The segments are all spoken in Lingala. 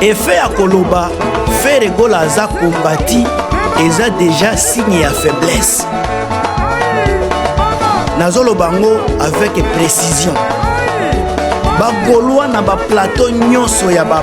efe ya koloba fere gola aza kombati eza deja signe ya faiblesse nazoloba yango avec précision bagolwa na baplateau nyonso ya ba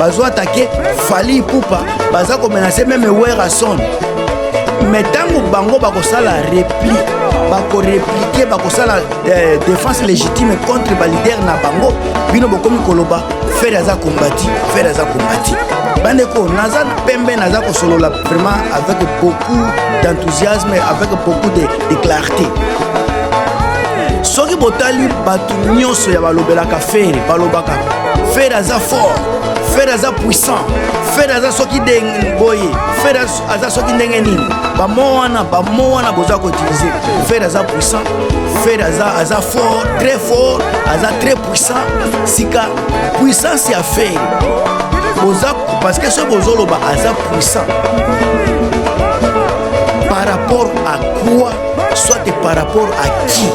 bazo atake fali ipupa baza komenase meme werason me ntango bango bakosala repli bakoreplike bakosala eh, défense légitime contre balider na bango bino bokomi koloba fere aza kombati fere aza kombati bandeko naza pembe naza kosolola vraiment avec beaucoup d'enthousiasme avec beaucoup de, de clarté soki botali bato nyonso ya balobelaka fere balobaka fere aza fort fere aza puissant fere aza soki boye fere aza soki ndenge nini bamo wana bamo wana boza koutilize fere aza puissant fere aza, aza fort très fort aza très puissant sika puissance ya fere boza parce que soki bozoloba aza puissant par rapport à quoi soit par rapport à qui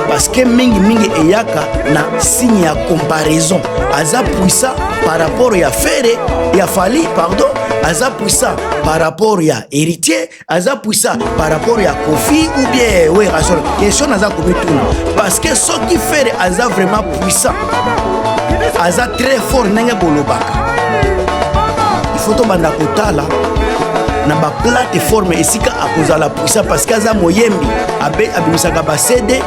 parce que mingi mingi eyaka na signe ya comparaison aza puissant par rapport ya fere ya fali pardon aza puissant par rapport ya héritier aza puissant par rapport ya kofi ou bien werasol question naza komituna parce que soki fere aza vraiment puissant aza très fort ndenge bolobaka il faut tobanda kotala na baplateforme esika akozala puissant parce que aza moyembi abimisaka ba cd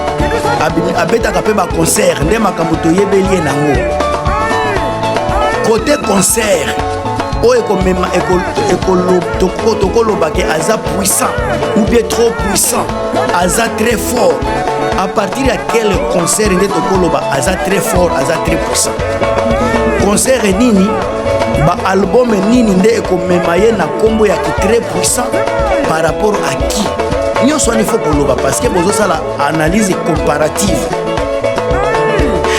abetaka mpe baconcert nde makambo toyebeli ye nango kote concert oyo ekomema tokolobake aza puissant ou bien trop puissant aza très fort à partir ya quel concert nde tokoloba aza très fort aza très puissant concert nini baalbome nini nde ekomema ye na nkombo ya kitrè puissant par rapport à qui nyonso wana ifo koloba parce que bozosala analyse comparative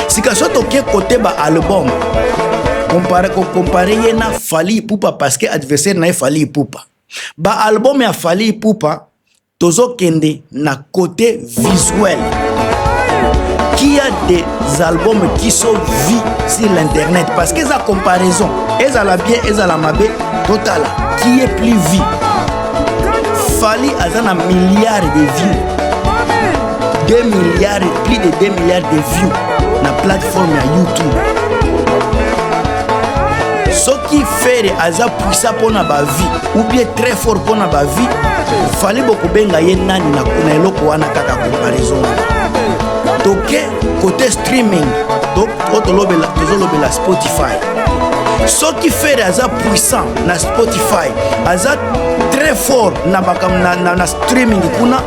sika so toke kote baalbome kompare ye na fali ipupa parce que adversaire na ye fali ipupa Ba album ya Fally Ipupa tozokende na côté visuel qui a des albums qui sont vus sur l'internet parce que eza comparaison ezala bien ezala mabe totala qui est plus vu fali aza na milliard de vues 2 milliards plus de 2 milliards de vues na plateforme ya youtube ki fere aza puisa mpo na bavie ou bien très fort mpo na bavie fale bokobenga ye nani na kuna eloko wana kaka comparaison wana toke kote streaming tozolobela to spotify soki fere aza puissant na spotify aza très fort na, na, na, na streaming kuna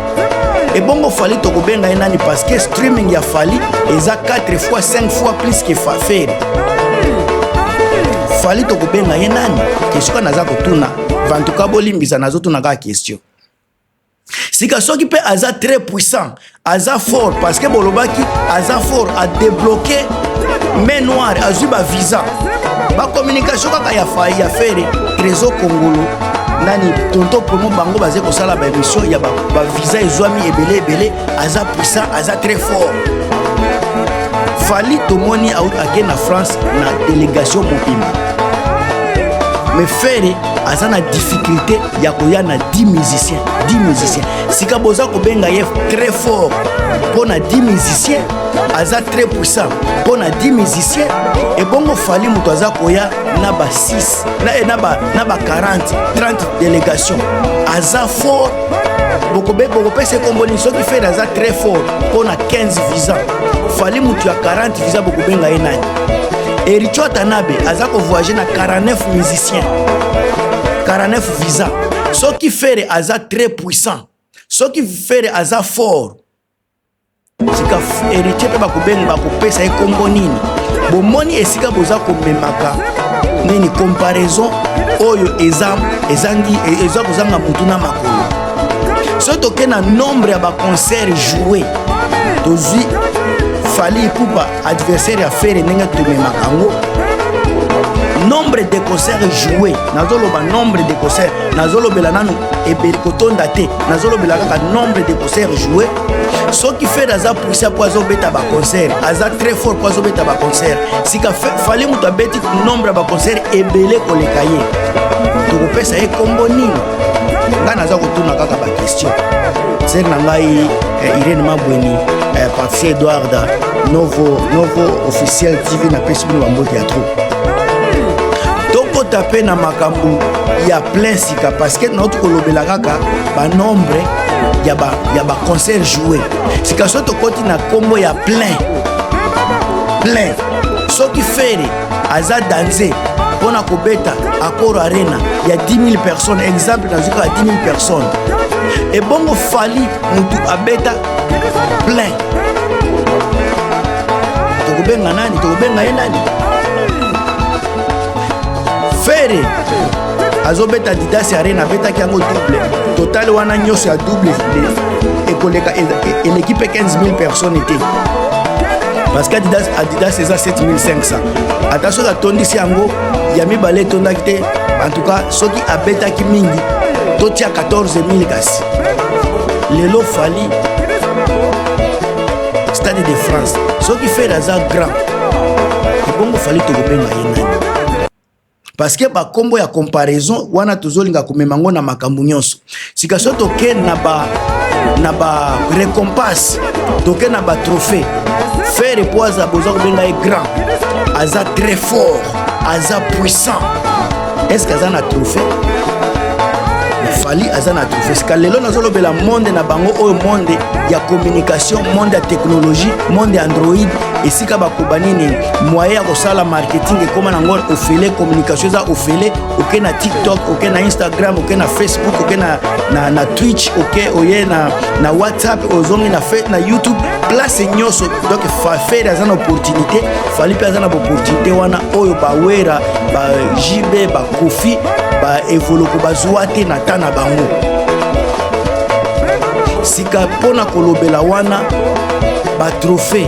ebongo fali tokobenga ye nani parce que streaming ya fali eza 4 fois 5 fois plus que faferi fali tokobenga ye nani kesika naza kotuna vantuka bolimbisa nazotuna kaka question sika soki mpe aza très puissant aza fort parce que bolobaki aza fort adebloke mai noire azwi bavisa bacommunication kaka ya fai ya fere trésor kongolo nani tonto promo bango baze kosala ba émission ya ba, ba visa ezwami ebele ebele aza puissant aza très fort fali tomoni ake na france na délégation mobimba mais ferre aza na difficulté ya koya na 10 musicien 10 musicien sika boza kobenga ye très fort mpo na 10 musicien aza très puissant mpo na 10 musicien ebongo fali moto aza koya na ba 6 na, eh, na, ba, na ba 40 30 délégation aza fort bokobe bokopesa ekomboni soki fed aza très fort mpo na 15 visa fali motu ya 40 visa bokobenga ye nani ericho atanabe aza kovoyage na 49 musicien 49 visa soki fere aza très puissant soki fere aza fort sika heritier mpe bakobenga bakopesa ye nkombo nini bomoni esika boza komemaka nini comparaison oyo eza ezangi eza kozanga motu na makolo soki toke na nombre ya baconcert joue tozwi fali ipupa adversaire ya fere ndenge tomemaka yango nombre de concert joue nazoloba nombre de concert nazolobela nanu ebeli kotonda te nazolobela kaka nombre de concert joue soki fere aza puisa mpo azobeta baconcert aza très fort mpo azobeta baconcert sika fale moto abeti nombre ya baconcert ebele koleka ye tokopesa ye nkombo nini ngai naza kotuna kaka bakestion sere na ngai eh, irene mabweni eh, patricia edward novo novo officiel tv napesi bino bambote ya trop tokota mpe na makambo ya plein sika parceke nauti kolobela kaka banombre ya baconcert joue sika so tokoti na nkombo ya plein plein soki fere aza danze mpo na kobeta accord arena ya 10000 personnes exemple nazwi kaka 10000 personnes ebongo fali motu abeta plein tokobenga nani tokobenga ye nani fere azobeta didas arena abetaki yango double total wana nyonso ya double ekoleka eleki mpe 15000 personnes te parce que adidas, adidas eza 7500 ata soki atondisi yango ya mibale etondaki te en tout cas soki abetaki mingi totia 14000 kasi lelo fali stade de france soki fere aza grand ebongo fali tokobenga ye nani parce que ba kombo ya comparaison wana tozolinga komema ngo na makambo nyonso sika so toke na ba na ba récompense toke na ba trophée faire mpo aza boza kobenga ye grand aza très fort aza puissant est ce que aza na trophée fali aza na trophée sika lelo nazolobela monde na bango oyo monde ya communication monde ya technologie monde ya android esika bakoba nini moyen ya kosala marketing ekoma na ngor ofele communication eza ofele oke na tiktok oke na instagram oke na facebook oke na, na, na twitch oke oye na, na whatsapp ozongi na, na youtube place nyonso donc fafere aza na opportunité fali mpe aza na baopportunité wana oyo bawera ba jb bakofi baevoloko bazwa te na ta na bango sika mpo na kolobela wana batrophée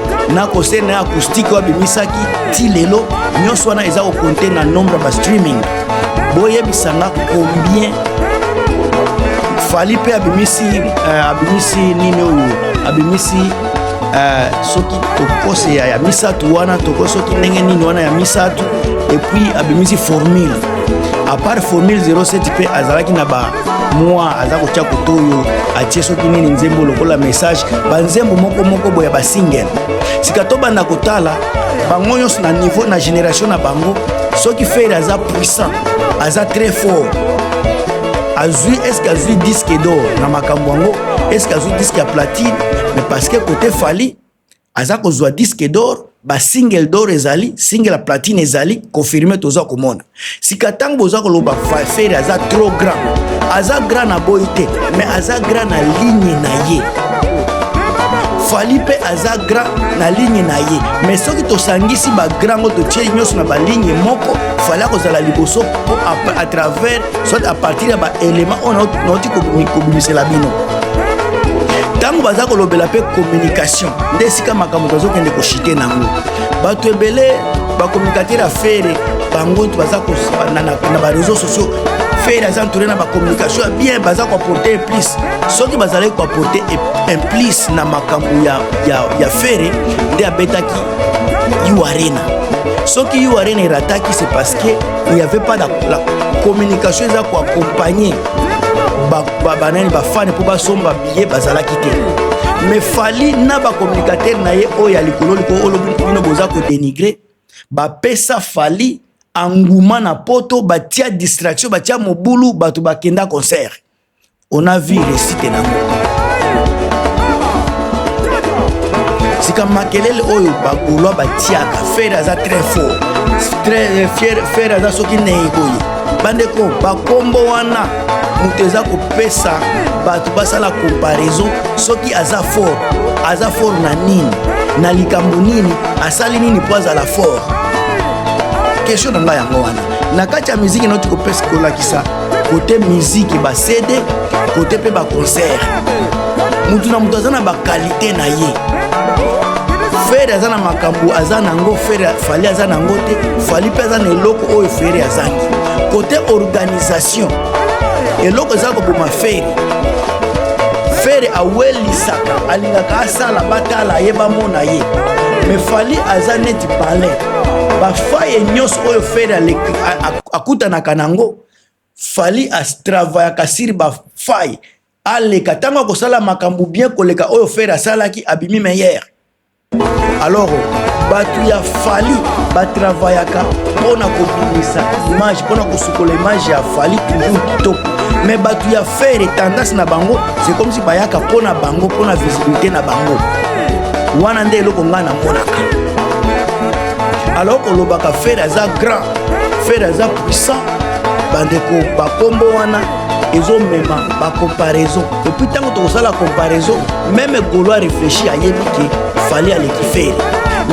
na concert na acoustique oyo abimisaki ti lelo nyonso wana eza kokonte na nombre ya bastreaming boyebisa nga combien fali mpe abimisi uh, abimisi nini oyo abimisi uh, soki tokose ya, ya misato wana toko soki ndenge nini wana ya misato epuis abimisi formule apart formule 07 mpe azalaki na ba mwa aza kotya koto oyo atie soki nini nzembo lokola message banzembo moko moko boya basingle sika tobanda kotala bango nyonso na niveau na génération na bango soki fere aza puissant aza très fort azwi eske azwi disque d'or na makambo yango eske azwi disque ya platine mais parce que kote fali aza kozwa disque d'or ba single d'or ezali single ya platine ezali confirme toza komona sika ntango boza koloba faferi aza trop grand aza grand na boyi te mais aza grand na ligne na ye fali mpe aza grand na ligne na ye mais soki tosangisi bagrand ngo totie nyonso na baligne moko fali akozala liboso mpo à travers soit à partir ya baélément oyo nauti kobimisela bino ntango baza kolobela mpe communication nde esika makambo tozokende koshite nango bato ebele bakomunikatere ya fere bango nto baza na bareseau sociaux fere aza entouré na bacommunication ya bien baza koaporte implice soki bazalaki koaporte implice na makambo ya, ya, ya fere nde abetaki u arena soki u arena erataki c'est parce que il n'y avait pas la, la communication eza koaccompagne banani bafani mpo basomba biye bazalaki te me fali na bacommunicatere na ye oyo ya likolo likolo olobi bino boza kodenigre bapesa fali anguma na poto batia distraction batia mobulu bato bakenda concert on a vu resite nango sika makelele oyo bagolois batiaka fere aza très fort très fier fere aza soki nei boye bandeko bakombo wana moto eza kopesa bato basala comparaison soki aza fort aza fort na nini na likambo nini asali nini mpo azala fort question na ngai yango wana na kati ya miziki noti kopesa kolakisa kote miziki basede kote mpe baconcert moto na moto aza na bakalite na ye fere aza na makambo aza na yango fere fali aza na yango te fali mpe aza na eloko oyo fere azangi kote organisation eloko eza koboma fere fere awelisaka alingaka asala batala ye bamona ye me fali aza neti palin bafaye nyonso oyo fere akutanaka na yango Fally a travaillaka sur ba faille aleka tango akosala makambu bien koleka oyo Ferre asalaki abimi meilleur alors batu ya fali batravayaka mpo na kobimisa image mpo na kosukola image ya fali toujours kitoko me bato ya fere tendance na bango c'est comme si bayaka mpo na bango mpo na visibilité na bango wana nde eloko ngai namonaka alors kolobaka fere aza grand fere aza puissant bandeko bakombo wana ezomema bacomparaison epuis ntango tokosala comparaison meme golo a réfléchi ayebi ke fali aleki fere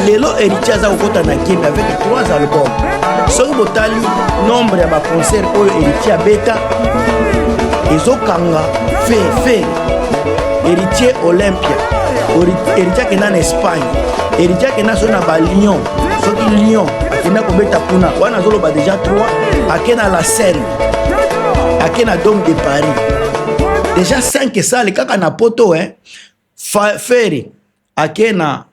lelo héritier aza kokota na game avec 3 album soki botali nombre ya baconcert oyo héritier abeta ezokanga fere fere héritier olympia héritier akenda na espagne héritier akenda so na balion soki lion akenda kobeta kuna wana azoloba deja 3 ake na la seine ake na dome de paris deja 5 esali kaka na poto eh? fere ake na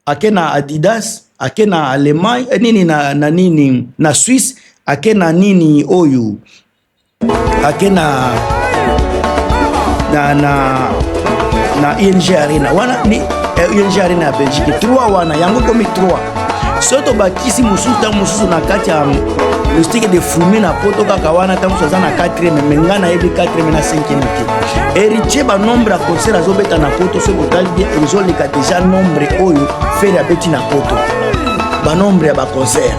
ake na adidas ake na allemagne eh, nini na, na nini na suisse ake na nini oyo ake na na na na ing arena wana ni eh, ing arena ya belgique 3 wana yango komi 3 soki tobakisi mosusu ntango mosusu na kati ya mistike de fume na poto kaka wana ntango mosusu aza na 4 me ngai nayebi 4 na 5 te héritier banombre ya concert azobeta na poto soki botali bien ezoleka deja nombre oyo fere abeti na poto banombre ya baconcert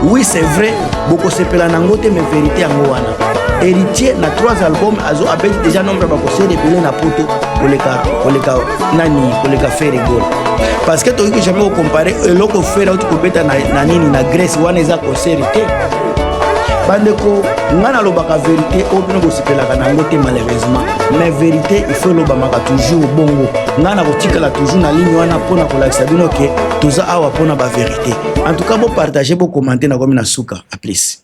oui c'est vrai bokosepela na yango te mais verité yango wana héritier na trois album azo abeti déjà nombre ya bakoseli ebele na poto koleka koleka nani koleka fere gol parce que tokoki jamais kocompare eloko fere auti kobeta na, na nini na grèce wana eza koseri te bandeko ngai nalobaka verité oyo bino bosepelaka na yango te malheureusement mais verité ifo elobamaka toujours bongo ngai nakotikala toujours na ligne wana mpo na kolakisa bino ke toza awa mpo na baverité en tout cas bo partager bo commenter na komi na suka a plus